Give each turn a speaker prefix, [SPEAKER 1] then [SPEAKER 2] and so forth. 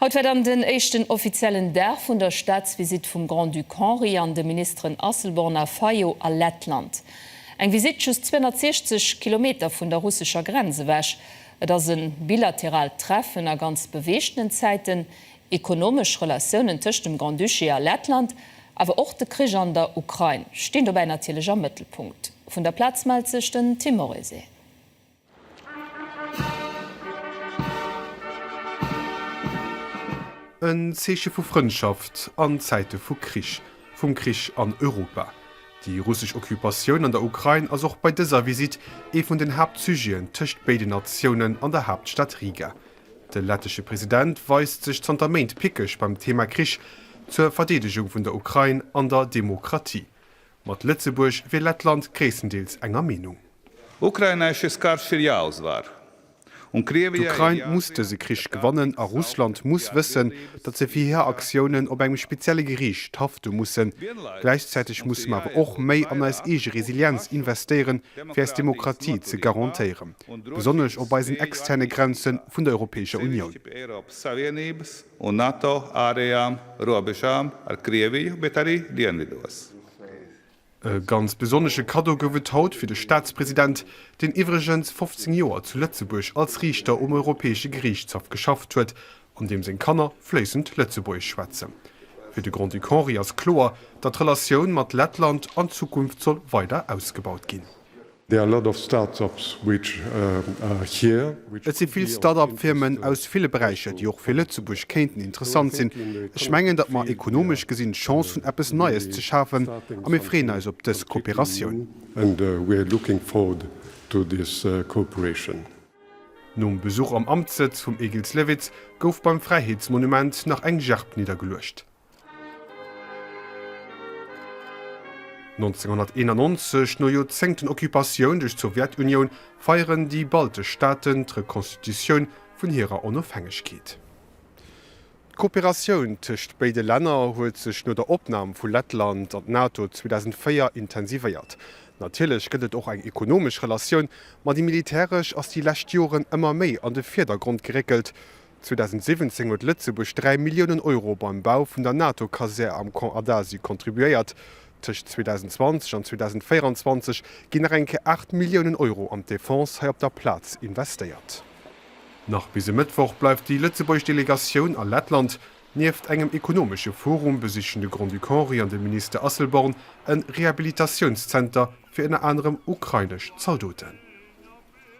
[SPEAKER 1] Haut war dann den éischten offiziellen Dag vun der Staatsvisitt vum Grand-Duc Henri an de Ministeren Asselborn a Fayot a Lettland. Eng Visitt just 260 Kilometer vun der russescher Grenz ewech. Et ass e bilateraalt Treffen a ganz beweegtenen Zäiten, Ekonomesch Relatiounen tëscht dem Grand-Duché a Lettland, awer och de Krich an der Ukrain stinn dobäi natierlech am Mëttelpunkt. Vun der Plaz mellt sech den Tim Morrissey.
[SPEAKER 2] En Zeeche vu Frëndschaft an Zäite vu Krich, vum Krich an Europa. Déi russesch Occupatioun an der Ukrain ass och bei dëser Visitt ee vun den Haaptsujeten tëscht béiden Natiounen an der Haaptstad Riga. De lettesche President weist sech zanter Méint pickeg beim Thema Krich, zur Verdeedegung vun der Ukrain an der Demokratie. Mat Lëtzebuerg wier Lettland gréisstendeels enger Meenung. Ukraina és és kár sirja az vár. D'Ukrain muss dëse Krich gewannen a Russland muss wëssen, datt se fir hir Aktiounen op engem spezielle Geriicht hafte mussen. Gläichzäiteg musse mer awer och méi an eis eege Resilienz investéieren, fir eis Demokratie ze garantéieren, besonnesch op eisen externe Grenze vun der Europäescher Unioun. Un NATO ärejam robežām ar Krieviju, bet ari dienvidos. E ganz besonnesche Kaddo gouf et haut fir de Staatspresident, deen iwwregens 15 Joer zu Lëtzebuerg als Riichter um Europäesche Geriichtshaff geschafft huet an deem seng Kanner fléissend Lëtzebuergesch schwätzen. Fir de Grand-Duc Henri ass kloer, datt d'Relatioun mat Lettland an Zukunft soll weider ausgebaut ginn. Et si vill Start-up-Firmen aus ville Beräicher, déi och fir Lëtzebuerg kéinten interessant sinn. Ech mengen, datt mer ekonomesch gesinn d'Chance hunn, eppes Neies ze schafen, a mir freeën eis op dës Kooperatioun. Nom Besuch am Amtssëtz vum Egils Lewitz gouf beim Fräiheetsmonument nach eng Gerb niddergeluecht. 1991, no Joerzéngten Occupatioun duerch d'Sowjetunioun, feieren déi baltesch Staaten d'Rekonstitutioun vun hirer Onofhängegkeet. D'Kooperatioun tëscht béide Länner huet sech no der Opnam vu Lettland an d'NATO 2004 intensivéiert. Natierlech gëtt et och eng ekonomesch Relatioun, ma déi militäresch ass déi lescht Joren ëmmer méi an de Virdergrond geréckelt, 2017 huet Lëtzebuerg 3 Milliounen Euro beim Bau vun der NATO-Kasär am Camp Adasio contribuéiert. Tëscht 2020 an 2024 ginn nach eng Kéier 8 Milliounen Euro an d'Defense hei op der Plaz investéiert. Nach bis e Mëttwoch bleift déi lëtzebuergesch Delegatioun a Lettland. Nieft engem ekonomesche Forum besichen de Grand-Duc Henri an de Minister Asselborn e Rehabilitatiounszenter fir ënner anerem ukrainesch Zaldoten.